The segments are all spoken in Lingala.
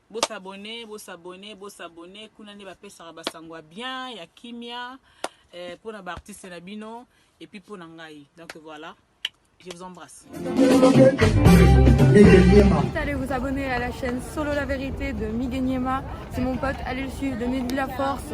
Bo s'abonner, bo s'abonner, bo s'abonner. Kuna nde bapesaka ba sango ya bien, ya kimia, eh, mpo na ba artistes na bino et puis mpo na ngai. Donc voilà, je vous embrasse. N'hésitez allez vous abonner à la chaîne Solo la vérité de Miguel Niema. C'est mon pote, allez le suivre, donnez-lui la force.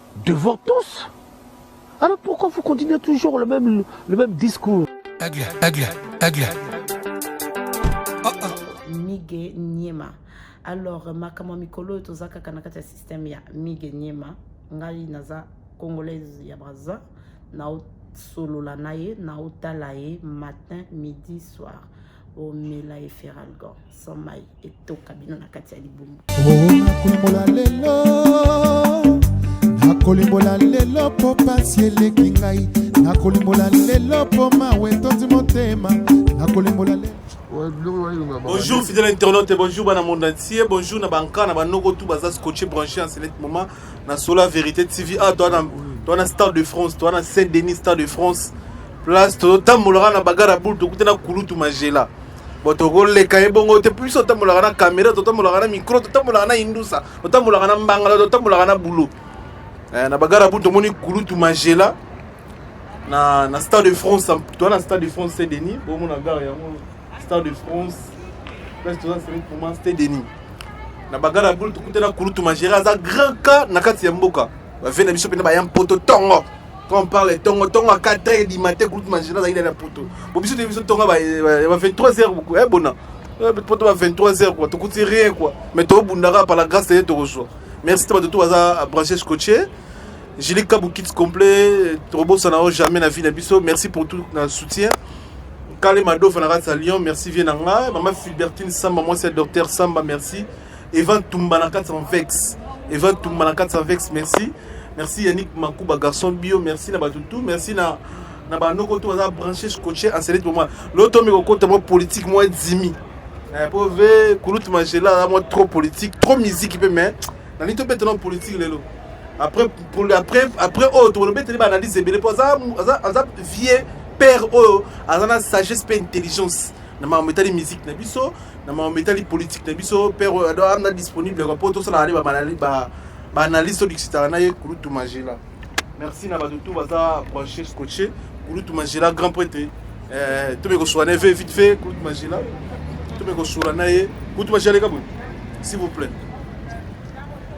devant tous alors pourquoi vous continuez toujours le même, le même discours aigle aigle aigle oh, oh. mige niema alors makambo ya mikolo oyo toza kaka na kati ya systeme ya mige niema ngai naza congolaise ya braza naosolola na ye naotala ye matin midi soir omela eferalgon sans mai etoka bino na kati ya libumu nakolimbola lelo nakolimbola lelo mpo pasi eleki ngai nakolimbola lelo mpo mawa etondi motema nakolimbola lelo bonjour fidèle internaute bonjour bana monde entier bonjour na banka na banoko tout baza scotché branché en select moment na sola vérité tv a ah, toa na stade de france toa na saint denis stade de france place tozotambolaka na bagara bulu tokuta na kulutu magela bo tokoleka ye bongo te biso totambolaka na kamera totambolaka na micro totambolaka na indusa totambolaka na mbangala totambolaka na bulo eh, na bagara bulu tomoni kulutu magela na, na stade de france toa na stade de france se denis bomona gare yango stade de france place toza seri poma ste denis na bagara ya bulu tokutana kulutu magera aza grand cas na kati ya mboka bave na biso mpena baya mpoto ntongo Quand on parle tongo tongo à 4 heures du matin groupe manger dans la poto. Bon biso biso tongo ba 23 heures beaucoup. Eh bona. Eh, poto ba 23 heures quoi. Tu coûtes rien quoi. Mais to bundaka par la grâce de Dieu reçoit. Merci toi de tout hasard branché scotché. Julie Kabou Kids complet, Robo Sanao jamais na vie na biso. Merci pour tout le soutien. Kale Mado Fanara Salion, merci Vienanga. Maman Fulbertine Samba, moi c'est docteur Samba, merci. Eva Tumba na 400 vex. Eva Tumba na 400 vex, merci. Merci Yannick Makuba garçon bio, merci na bato tout, merci na na ba noko tout baza branché scotché en select pour moi. L'autre mais kokota moi politique moi dimi. Eh pour ve kulut magela moi trop politique, trop musique pe mais na nito pe trop politique lelo. Après pour après après oh tu olobe tele ba analyse ebele pour ça ça vieux père oh azana sagesse pe intelligence. na makambo etali musique na biso na makambo etali politique na biso père oyo ado amna disponible kwa mpo tosalaka nde baanalyse todikisitaka na ye kulutu magela merci na bato tu baza branche scotche kulutu magela grand prêtre eh, tobe kosuka na ye ve vite fait kulutu magela tobe kosuka na ye kulutu magela leka boye s'il vous plaît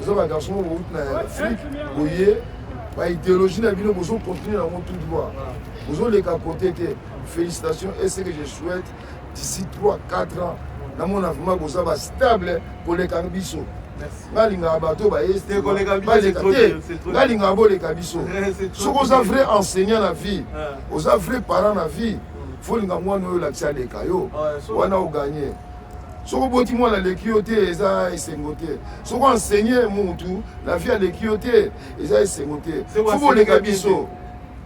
oza ba garçon moko bouti na afrique boye ba idéologie na bino bozo continuer yango tout droit bozoleka kote te félicitation et ce que je souhaite d'ici 3 4 ans namona vraiment boza ba stable koleka biso balingaka bato bayebalingaka boleka biso soki oza vrai enseignant na vie oza vrai parent na vie folinga mwana oyo olakisa aleka yo wana oganye soki oboti mwana aleki yo te eza esengo te soki enseigne mutu na vie aleki yo te eza esengo te fo boleka biso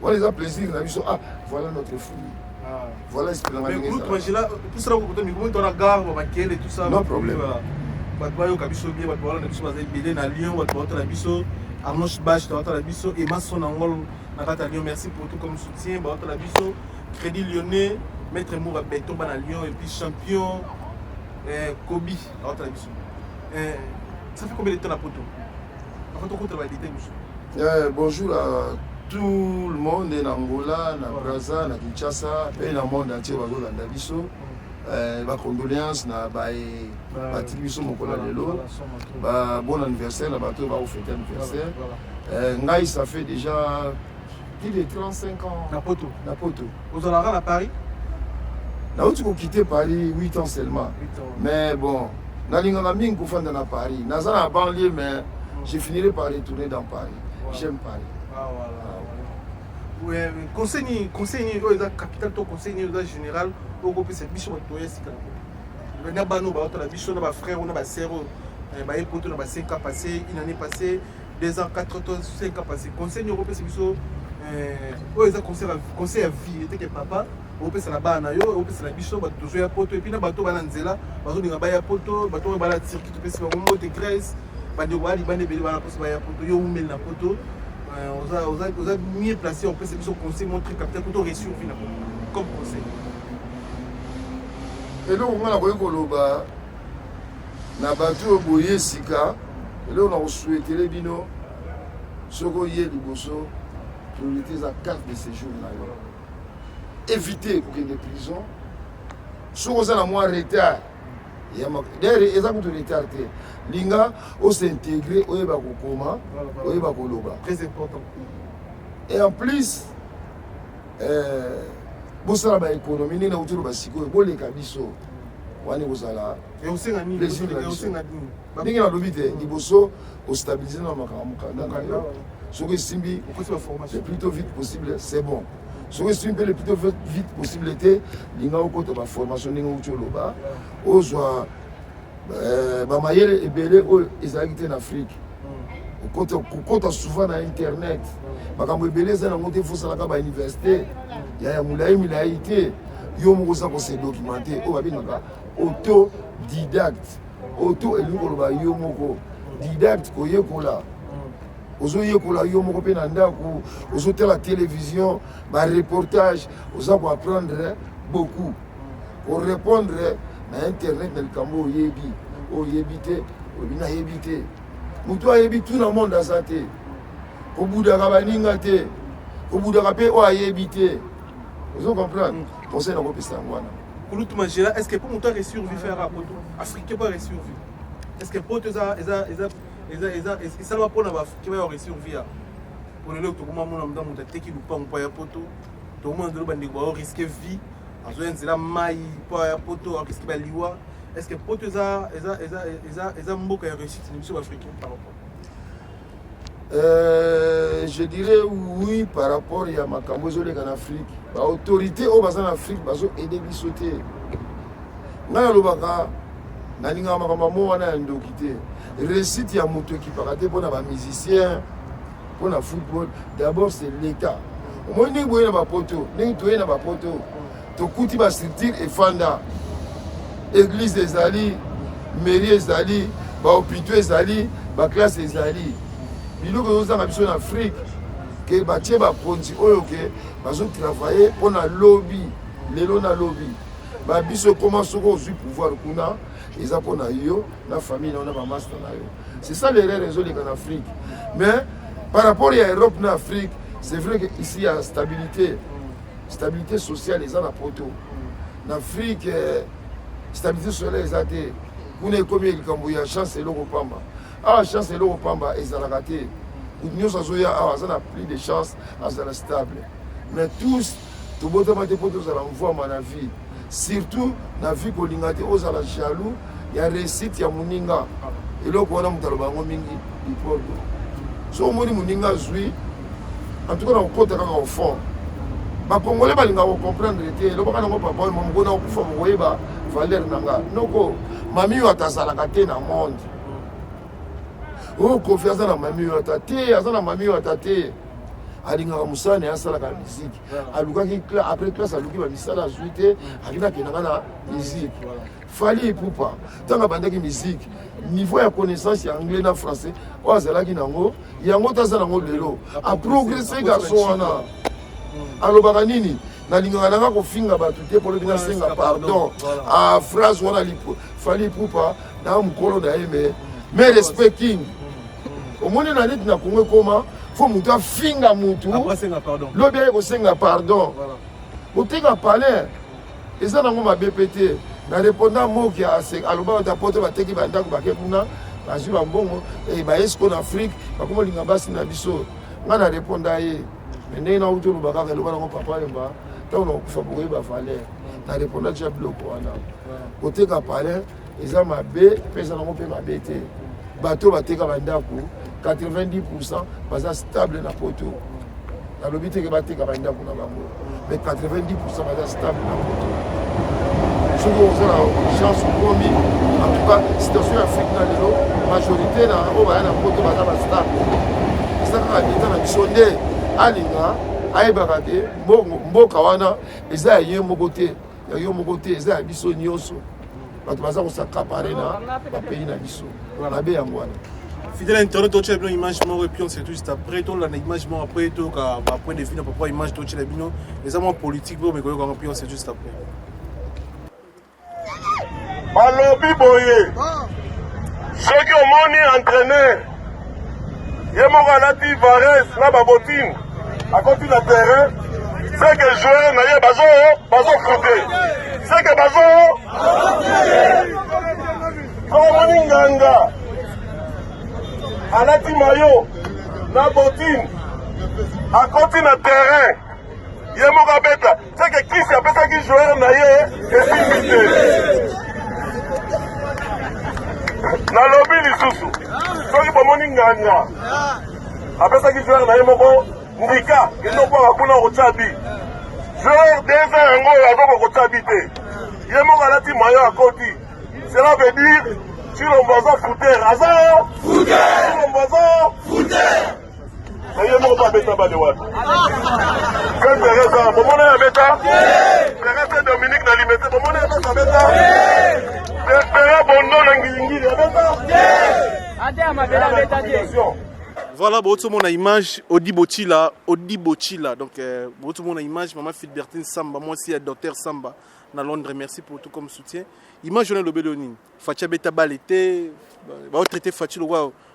wana eza plaisir na biso ah voilà notre fille ah. voilà espelanga ndenge ezala no problème bato bayoka biso bie bato balanda biso baza ebele na lyon bato baotala biso arnoche bash baotala biso emason angol na kati ya lyon merci pour tout comme soutien baotala biso Credit Lyonnais, Maître Moura Beton bana Lyon et puis champion euh, Kobe awata na biso. Euh, ça fait combien de temps na poto Avant tout contre ba détails biso. Euh, bonjour à tout le monde na Angola, na ouais. Brazza, na Kinshasa, pe na monde entier bazolanda biso. Euh, ba condoléances na ba batiki biso mokolo ya lelo ba bon anniversaire na bato oyo bakofete anniversaire euh, ngai ça fait déjà plus de 35 ans na poto na poto ozalaka na paris nauti kokite paris 8 ans seulement mais bon nalingaka mingi kofanda na paris naza na banlieu mais hmm. je finirai par retourner dans paris j'aime paris ah, voilà. Ah, conseil nini conseil nini oyo eza capital to conseil nini oza général okopesa biso bato ya sika na bana oyo baotala biso na bafrère oyo na basere oyo baye poto na ba 5 ans passé une année passée 2 ans 4 to 5 ans passé conseil nini okopesa biso eh, oyo eza conseil ya vie eteke papa opesa na bana na yo opesa na biso bato tozo ya poto epuis na bato bana nzela bazolinga baya poto bato oyo bala turki topesi bango mbote grèce bandeko baya libanda ebele bana mposo baya poto yo umeli na poto eh, oza mieux placé opesa biso conseil montre capital kuto réussir vie na poto comme conseil eloko ngai nakoki koloba na bato oyo boye sika eloko na kosuetele bino soki oye liboso priorité eza carte de séjour na yo éviter kokende prison soki oza na mwa retard dere eza kutu retard te linga osintegre oyeba kokoma oyeba koloba et en plus euh, bosala baéconomie ndenge nauti oloba sikoyo boleka biso wana ekozala ndenge nalobi te liboso ostabilise na makambo mokanda yo soki esimbi le plus tôt vite possible c'est bon soki esimbi mpe le plus tôt vite possible te linga okota baformation ndenge outi oloba ozwa eh, bamayele ebele oyo ezalaki te na afrique kokota souvent na internet makambo ebele eza nango te fosalaka bauniversité ya ya molai milai te yo moko oza kose documente oyo babengaka autodidacte oto elingi koloba yo moko didacte koyekola mm. ozoyekola yo moko mpe na ndako ozotala télévision bareportage oza koapprendre beaucoup mm. korépondre na internet na likambo oyebi mm. oyebi te oyebi nayebi te motu ayebi tout na monde aza te kobudaka baninga te kobudaka mpe oyo ayebi te ozo comprendre conseil na kopesa yango wana kulutu magela est ce que mpo moto aresurvi faire apoto africain mpo aresurvi est ce que poto eza eza eza eza eza esalama mpo na baafricain bayo aresurvi ya mpo lelo tokoma mona mda moto ateki lupango mpo ya poto tokomona ndelo bandeko bao riske vie azoya nzela mai mpo ya poto ariske baliwa est ce que poto eza eza eza eza eza mboka ya réussite na biso baafricain par rapport Euh, je dirais oui par rapport ya makambo ezoleka na afrique baautorité oyo baza na afrique bazo aide biso te ngai nalobaka nalingaka makambo yango wana ya ndoki te réussite ya moto ekipaka te mpo na bamusicien mpo na football d'abord c'est l'état omoni ndenge boye na bapoto ndenge toye na bapoto tokuti ba structure efanda eglise ezali mairie ezali bahopitaux ezali baklasse ezali biloko ezozanga biso na afrike ke batie bakonzi oyo ke bazotravaille mpo na lobi lelo na lobi babiso ekoma soki ozwi pouvoir kuna eza mpo na yo na famille na yo na bamasta na yo c'est ça l'erreur ezoleka na afrique mais par rapport ya europe na afrique c'est vrai que ici ya stabilité stabilité sociale eza na poto na afrique eh, stabilité sociale eza te kuna ekomi likambo ya chance eloko pamba awa ah, chance eloko pamba ezalaka te kutu nyonso azoya awa aza na plus de chance azala stable mais tous tobotama te mpo tozala mvwama na vie surtout na vie kolinga te ozala jaloux ya réussite ya moninga eloko wana moto aloba yango mingi lipordo so omoni moninga azwi antuka na kokota kaka ofond bakongole balinga kocomprendre te elobaka nango papa oyo mamoko na kokufa bokoyeba valeur na nga noko mami oyo atazalaka te na monde oyo oh, kofi aza na mami oyo ata te aza na mami oyo ata te alingaka mosala na ye asalaka miziki alukaki après classe aluki bamisala azwi te akenda akendaka na musique fali epupa ntango abandaki musique niveau ya connaissance ya anglais na français oyo azalaki nango yango taza nango lelo aprogresse garçon wana hmm. alobaka nini nalingaka nanga kofinga bato te polobi nasenga pardon a ah, phrase wana fali epupa na mokolo na ye me hmm. me respect king omoni na neti na kongo ekoma fo motu afinga motu lobi aye kosenga pardon otika palais eza nango mabe mpe te na répondant moki alobaka ta poto bateki bandako bake kuna bazwi bambongo eh, baye siko na afrike bakoma olinga basi na biso ngai na réponda ye me ndenge nauti oloba kaka eloba nango papa yemba ntango nakokufa bokoyeba valeur na réponda tya biloko wana koteka palais eza mabe mpe eza nango mpe mabe te bato bateka bandako 90 pourcent baza stable na poto nalobi teke bateka bandako na bango mais 90 pourcent baza stable na poto soki oza na chance okomi en tout cas situation ya afrique na lelo majorité na oyo baya na poto baza bastable eza kaka leta na biso nde alinga ayebaka te mboka wana eza ya ye moko te ya yo moko te eza ya biso nyonso bato baza kosakapare na bapays na biso mabe yango wana fidèle internet totyela bino image moko epuis on se tout juste après tolanda image moko après toyoka bapoint de vue na papa image totyela bino eza mwa politique mpe omekoyoka yango puis on se tout juste après balobi boye soki omoni entraîneur ye moko alati vares na babotine akoti na terrain seke joueur na ye bazo bazo frute seke bazo omoni nganga alati mayo na botine akoti na terrain ye moko abeta seke kisi apesaki joueur na ye esimbi te nalobi lisusu soki bomoni nganga apesaki joueur na ye moko ndika kende okwaka kuna okotya bi joueur deza yango oyo azoka kotya bi te ye moko alati mayo akoti cela veut dire chilombo aza fouter aza chilombo aza Eye moko ba beta bale wapi? Ken Pereza, bomona ya beta? Pereza Dominique na limete, bomona ya beta beta? Pera Bondo na ngilingili, ya beta? Ate ya mabela beta te. Voilà, Boto mon image, Odi Botila, Odi Botila. Donc, euh, Boto mon image, Maman Filbertine Samba, moi aussi, docteur Samba, na Londres. Merci pour tout comme soutien. Image, on a le Bélonin. Fatia Beta Balete, va traiter Fatia le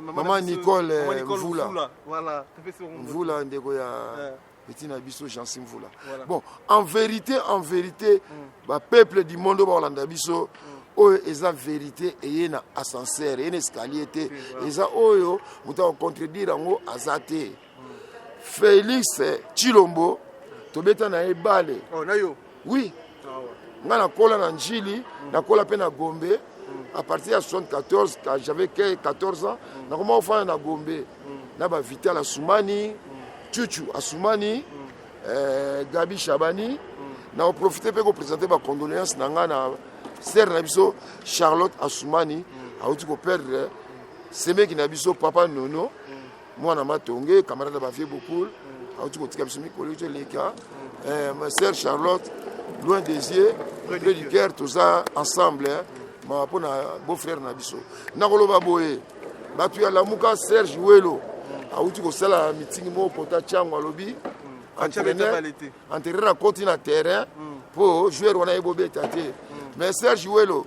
mama nicole mvula mvula ndeko ya eh. petit na biso jansi mvula bon en vérité en vérité mm. bapeuple du monde oyo bakolanda biso mm. oyo eza verité eye na ascenseur eye na escalier te eza oyo moto akocontredire yango aza te Felix Chilombo tobeta na ye bale. Oh, na yo. Oui. Ah, ouais. Nga nakola na Njili, mm. nakola pe na Gombe. Mm. À partir ya 74 quand j'avais 14 ans, mm. nakoma ofana na Gombe. Mm. Na ba Vital Asumani, mm. Chuchu Asumani, mm. euh, Gabi Shabani. Mm. Na profiter pe ko présenter ba condoléances na nga na sœur na biso Charlotte Asumani, mm. auti ko perdre semeki na biso papa Nono. Mm. mwana matonge camarade ya bavieux bokul auti kotika biso mikolo yo toleka eh, ma sœur charlotte loin des yeux près du cœur toza ensemble mawa mpo na beau frère na biso nakoloba boye bato ya lamuka serge welo auti kosala mitingi moko pota tiango alobi entraîneur entraîneur akoti na terrain mpo joueur wana ye bobeta te mais serge welo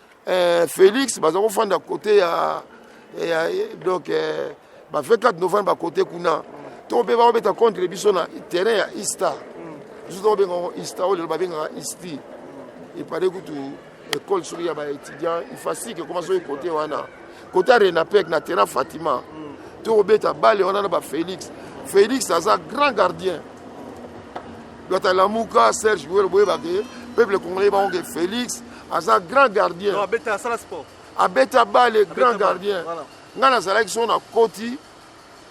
eh, Felix baza kofanda kote ya, ya donc eh, ba 24 novembre ba kote kuna to mpe bakobeta contre biso na terrain ya Easter biso tokobenga yango Easter oyo lelo babengaka Easter epale kutu ekole soki ya baétudiant ifasike ekoma soki kote wana kote ya renapec na terrain fatima tokobeta bale wana na bafélix félix aza grand gardien lwata lamuka serge boyelo boyebake peuple congolais bango ke félix aza grand gardien non abeta asala sport abeta bale grand gardien voilà. ngai nazalaki so na koti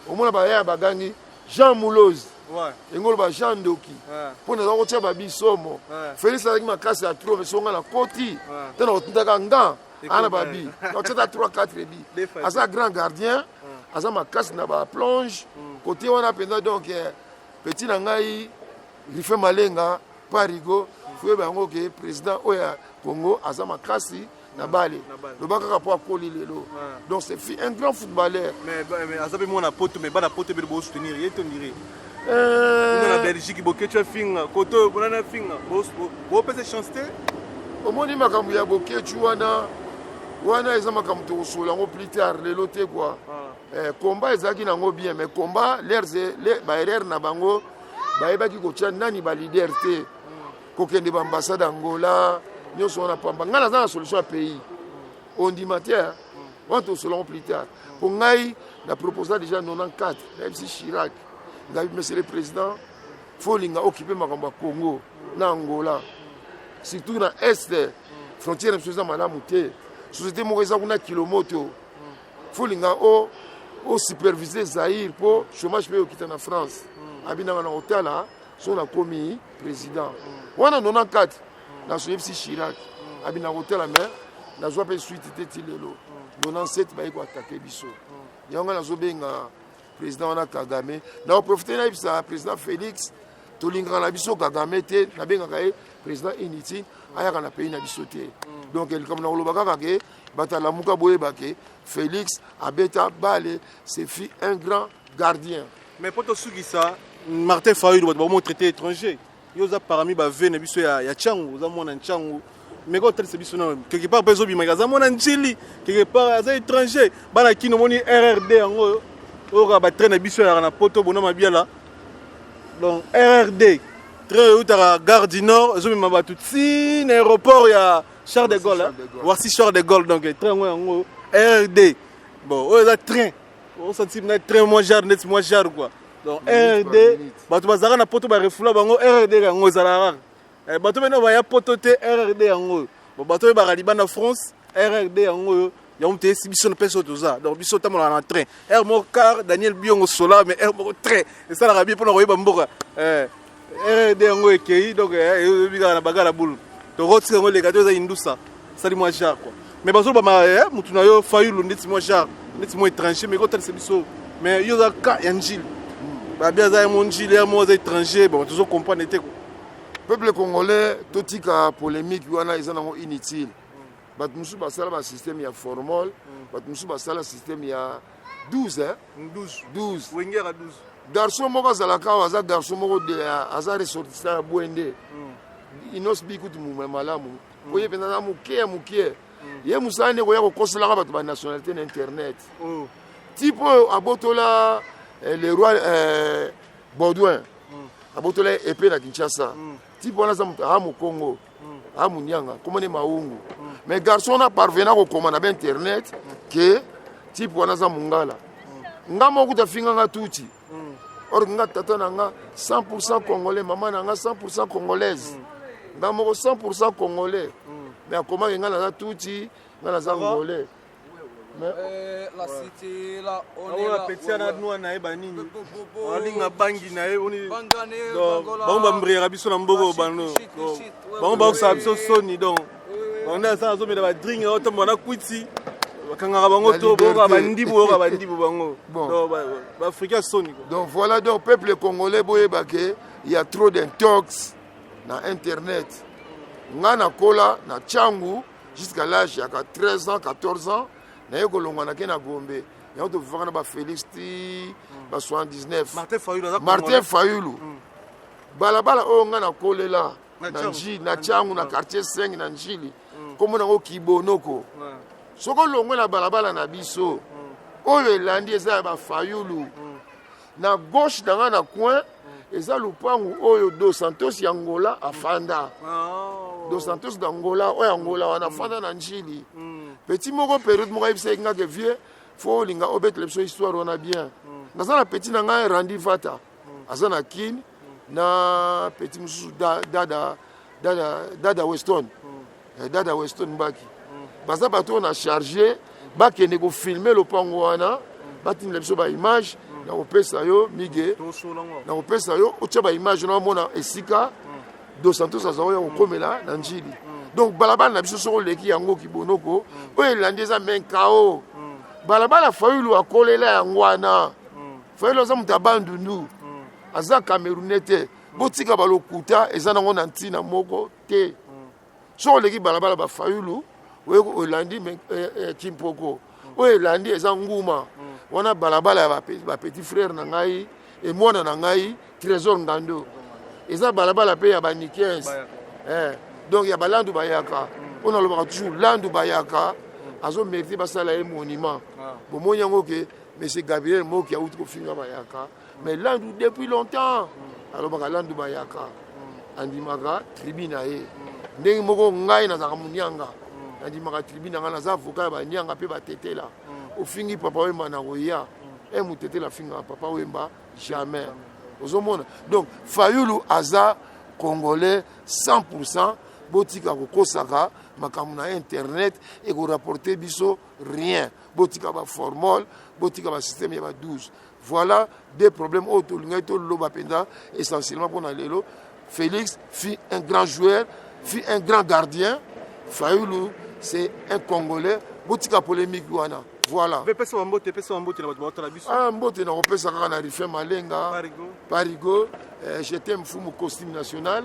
omona bayaya bagangi jean mulose ouais. engolo ba jean ndoki ouais. mpo naza kotya babi somo ouais. félix azalaki makasi ya tro meso ngai na koti ouais. te na kotindaka nga ana babi nakotyata 3 4 bi aza grand gardien ouais. aza makasi na baplonge mm. kote wana mpenza donc eh, petit na ngai rife malenga pa rigo foyeba yango ke président oyo ya congo aza makasi na bale loba kaka mpo akoli lelo ah. donc c'est un grand footballeur aza mpe mwana poto mais bana poto ebele bosoutenir ye to ndire euh, na belgique boketio afinga koto oyo bonani afinga bopesa chance te omoni makambo ya boketio wana wana eza makambo tokosolo yango plus tard lelo te kua ah. eh, combat ezalaki nango bien mais combat leurs baerreur na bango bayebaki kotya nani balider te kokende baambassade angola nyonso wana pamba ngai naza na solution ya pays ondima te wana tosolango plus tard mpo ngai na proposa déjà 94 nayebisi chirac ngai monsieur le président folinga okipe makambo ya congo na angola surtout na est frontière na biso eza malamu te société moko eza kuna kilomoto folinga o o superviser Zaire po chômage pe okita na France hmm. abinanga na otala so na komi président hmm. wana 94 na so yebisi Chirac hmm. abinanga otala mais nazwa pe suite te ti lelo 97 baye ko attaquer biso yango nazo benga président wana Kagame na o profiter na yebisa président Félix tolingaka na biso kagame te nabengaka ye président inutile ayaka na pays na biso te donc likambo na koloba kaka ke Bato ya Lamuka boyeba ke Felix abeta bale se fit un grand gardien. Mais poto sukisa Martin Fayulu bato bakomo traité étranger. Yo oza parmi ba ve na biso ya ya Changu, oza mwana Changu. Mais quand c'est biso na quelque part pezo bimaka aza mwana Njili, quelque part aza étranger. Bana kino moni RRD yango oyo ba train na biso ya na poto bona mabiala. Donc RRD train eutaka gare du nord ezomema bato ti na aéroport ya Charles de Gaulle. Voici Charles de Gaulle donc train yango yango RD. Bon, oyo eza train. Osanti na train mwa jar neti mwa jar quoi. Donc RD bato bazalaka na poto barefula bango RD yango ezalaka kaka. Eh, bato bene baya poto te RD yango oyo. Bon, bato oyebaka libanda France RD yango oyo yango te esi biso na mpe so toza donc biso otambolaka na train heure moko car daniel biongo sola mais heure moko train esalaka bie mpona koyeba mboka eh, rd yango ekei donc eh, eyebi kaka na bagala bulu tokotika yango eleka to eza indusa sali mwa jar kua mais bazoloba ma eh, motu na yo fayulu ndeti mwa jar ndeti mwa étranger mais ekotalisa biso mais yo oza ka ya njili babi aza yango njili ya moko aza étranger bon tozo comprendre te peuple congolais totika polémique wana eza nango inutile bato mosusu basala basysteme ya formol mm. bato mosusu basala systeme ya 12 12 wengera 12 garçon moko azalaka awa aza garçon moko aza ressortissant ya bwende mm. inos bikutu mumwe malamu mm. oye mpenza na moke ya moke ye mosala nde koya kokoselaka bato banationalité na internet oh. type oyo abotola eh, le roi eh, baudouin abotola ye epe na kinshasa type wana aza moto aa mokongo aa monianga komone maungu mais garçon wana parvena kokoma na bainternet ke type wana aza mongala nga moko kuta finga nga tuti or nga tata na nga 100 congolais mama na nga 100 congolaise nga moko 100 congolais mais akomaki nga naza tuti nga naza ngolais apeti ana nwa na ye banini alinga bangi na ye bango bambriyaka biso na mboko bano bango bakosaka biso soni donc bango nde asala azomela badring otombola na kwiti bakangaka bango to boyoka bandibu oyoka bandibu bango baafricain soni donc voilà donc peuple congolais boyeba ke ya trop d'intox na internet nga nakola na cangu jusqu'à l'âge ya 13 ans 14 ans naye kolongwa nake na gombe yango tofifaka na bafélix ti hmm. ba 79 martin fayulu hmm. balabala oyo ngai nakolela na njili na tiangu na quartier 5 na njili nkombo hmm. nango kibonoko soki olongwe na balabala na biso oyo elandi eza ya bafayulu na gauche na nga na coin eza lupangu oyo dos santos ya ngola afanda oh. dos santos na ngola oyo angola wana afanda na njili mm. petit moko periode moko ayebisaki nga ke vieux fo olinga obetela biso histoire wana bien mm. naza na petit na ngai randi vata mm. aza na kin na petit mosusu dada dada dada weston eh, dada weston mbaki baza bato oyo na charge bakende kofilme lopango wana batindela biso baimage nakopesa yo mige nakopesa yo otya baimage na omona esika dos santos azalaki ya kokomela na njili donc balabala na biso soko oleki yango kibonoko oyo elandi eza menkao balabala fayulu akolela yango wana fayulu aza moto ya bandundu aza camerounais te botika balokuta eza nango na ntina moko te soki oleki balabala bafayulu olandi kimpoko eh, eh, oyo elandi eza nguma wana balabala ya bapetit frere na ngai emwana na ngai trésor ngando eza balabala mpe ya banikens eh, donc ya balandu bayaka oyo nalobaka toujours landu bayaka azo merite basala ye monument ah. bomoni yango ke monsieur gabriel moki awuti kofinga bayaka mais landu depuis longtemps alobaka landu bayaka andimaka tribu na ye ndenge moko ngai nazalaka monianga nandimaka tribu na ngai naza avoka ya banianga mpe batetela ofingi papa wemba na koya e motetela afingaka papa wemba jamais ozomona donc fayulu aza congolais 100 pourcent botika kokosaka makambo na internet ekorapporte biso rien botika baformole botika basysteme ya ba 12 Voilà des problèmes oyo tolingaki toloba mpenza essentiellement mpo na lelo Félix fut un grand joueur fut un grand gardien Fayulu c'est un Congolais botika polémique wana voilà pesa bambote pesa bambote na bato baotala biso ah mbote nakopesa kaka na rifin malenga parigo eh, j'étais mfumu costume national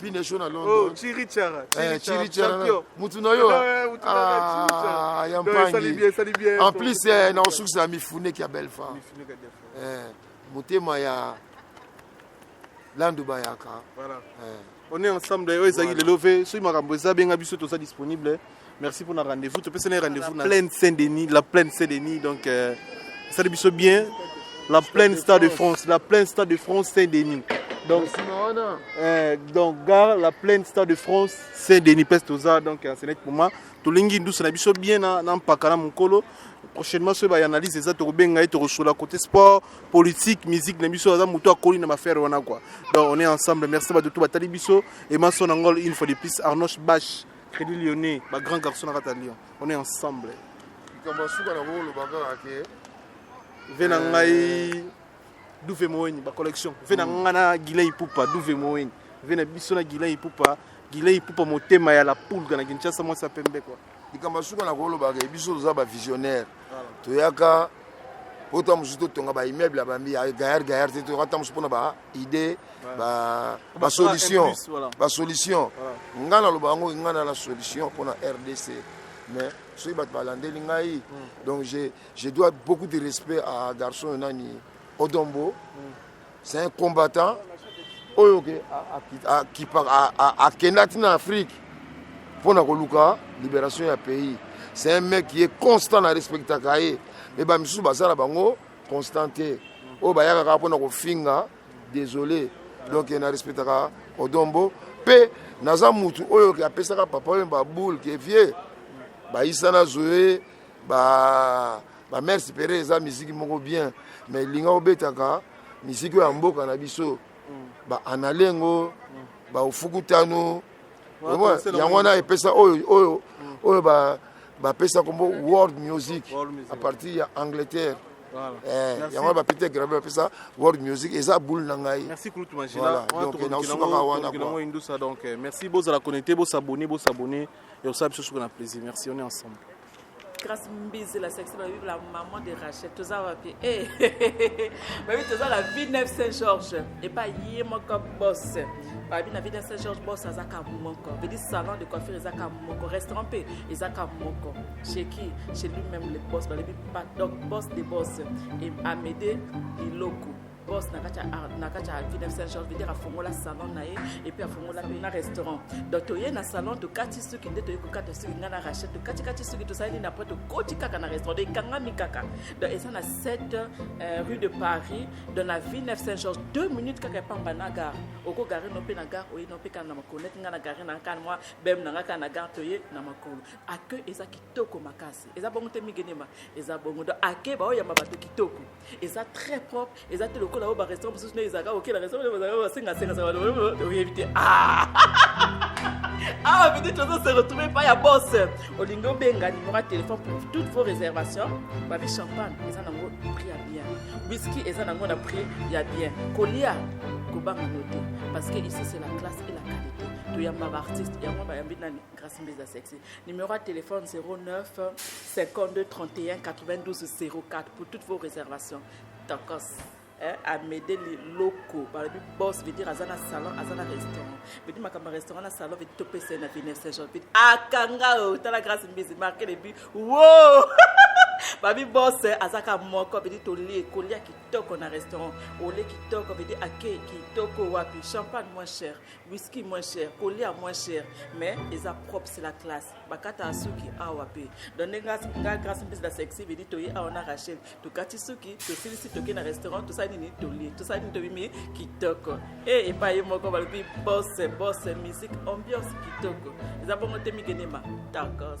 pine show na oh, london oh, chiri chara eh, chiri chara mutu na yo ah, ya mpangi en plus eh, na osukisa mifuneki ya belfa eh, motema ya landu bayaka voilà. eh. on est ensemble oyo ezalaki lelo ve soki makambo eza benga biso toza disponible Merci pour la rendez-vous. Tu peux se rendez-vous la plaine Saint-Denis, la plaine Saint-Denis donc euh, ça le bien la plaine Stade de France, la plaine Stade de France Saint-Denis. Donc, euh, donc gare la plaine Stade de France Saint-Denis Pestoza donc euh, c'est net pour moi. Tolingi douce na biso bien na na mpakala mukolo. Prochainement ce ba analyse eza to benga et sur la côté sport, politique, musique na biso aza muto akoli na mafere wana quoi. Donc on est ensemble. Merci ba tout batali biso et ma son angol une fois de plus Arnoche Bash. Credit Lyonnais, ba grand garçon na kata Lyon. On est ensemble. Likambo suka na wolo bakaka ke ve na ngai duve moweni ba collection ve na ngai na Gilen Ipupa duve moweni ve na biso na Gilen Ipupa Gilen Ipupa motema ya la pulga na Kinshasa mwasi ya pembe quoi. Likambo suka na wolo bakaka biso toza ba visionnaire. toyaka po to mosusu totonga ba immeuble ya bambi ya gayar gayar te toyaka ta mosusu mpona ba idée ba ba solution ba solution ngai naloba yango ngai na la solution mpona rdc mais soki bato balandeli ngai hmm. donc je, je dois beaucoup de respect à garçon nani odombo mm. c'est un combattant oyo ke akenda ti na afrique mpo na koluka libération ya pays c'est un mec ye constant na respectaka ye me bamisusu baza na bango constant te oyo bayaka kaka mpo na kofinga désolé donc na respectaka odombo mpe naza mutu oyo ke apesaka papa oyo baboule ke vie bayisana zoe ba ba mère supérieure eza musique moko bien mais linga obetaka musique ya mboka na biso mm. ba analengo mm. ba ufukutano yango wana epesa oyo oyo mm. oyo ba bapesa kombo world music à partir ya angleterre eh, yango wana bapete grave bapesa world music eza boule na ngai nasukaka wana merci bozala connecte bosabone bosabone ekosala biso suka na plaisir merci on est ensemble Grace Mbizi la sexy ba la maman de Rachel toza wapi eh ba bibi toza la Villeneuve Saint Georges et pas ye moko boss ba bibi na Villeneuve Saint Georges boss aza ka moko veut dire salon de coiffure eza ka moko restaurant pe eza ka moko chez qui chez lui même le boss ba bibi pas donc boss des boss et Amédée Iloko boss na kati na kati ya ville saint george vedere afongola salon na ye epuis afongola mpe na restaurant donc toye na salon tokati suki nde toye kokata suki ngai na rachel tokati kati suki tosali nini apres tokoti kaka na restaurant donc ekangami kaka donc eza na 7 euh, rue de paris donc na ville neuf saint george 2 minutes kaka epamba na gare okogare no mpe na gare oye no mpe kaka na makolo neti ngai na gare na kani mwa bem na ngai kaka na gare toye na makolo accueil eza kitoko makasi eza bongo te migenema eza bongo donc accueil baoyamba bato kitoko eza très propre eza te lokola oyo barestaurant mosusu nde ezalaka okela restaurant bazalaka basengasenga oyebi te awa peut-être ozo se retrouve epai ya bos olingi obenga numéro ya téléphone pour toutes vos réservations babi champagne eza nango prix ya bien whisky eza nango na prix ya bien kolia kobanga no te parce que ici c'est la classe et la qualité toyamba baartiste yango bayambi nani grâce mbeza sexy Numéro à téléphone 09 52 31 92 04 pour toutes vos réservations. Tokos. Hein, amede liloko balobi bos veut dire aza na salon aza na restaurant veut dire makambo ya restaurant na salon veut dire topesa ye na vine saint jean veut dire akanga ah, o oh, tala grâce mbizi marke le but wo babi bos eh, aza ka moko veut dire tolie kolia kitoko na restaurant olie kitoko veut dire akei kitoko wapi champagne moins cher Whisky moins cher, kolia moins cher, mais eza propre, c'est la classe. Bakata asuki awa pe. Donc nga nga grâce mpesa la sexy vidi toyi awa na Rachel. Tukati suki, tosilisi toke na restaurant, tout ça nini toli, tout ça nini tobimi kitoko. Et et pas yemoko balobi boss, boss, musique, ambiance kitoko. Eza bongo te mikenema. Tacos.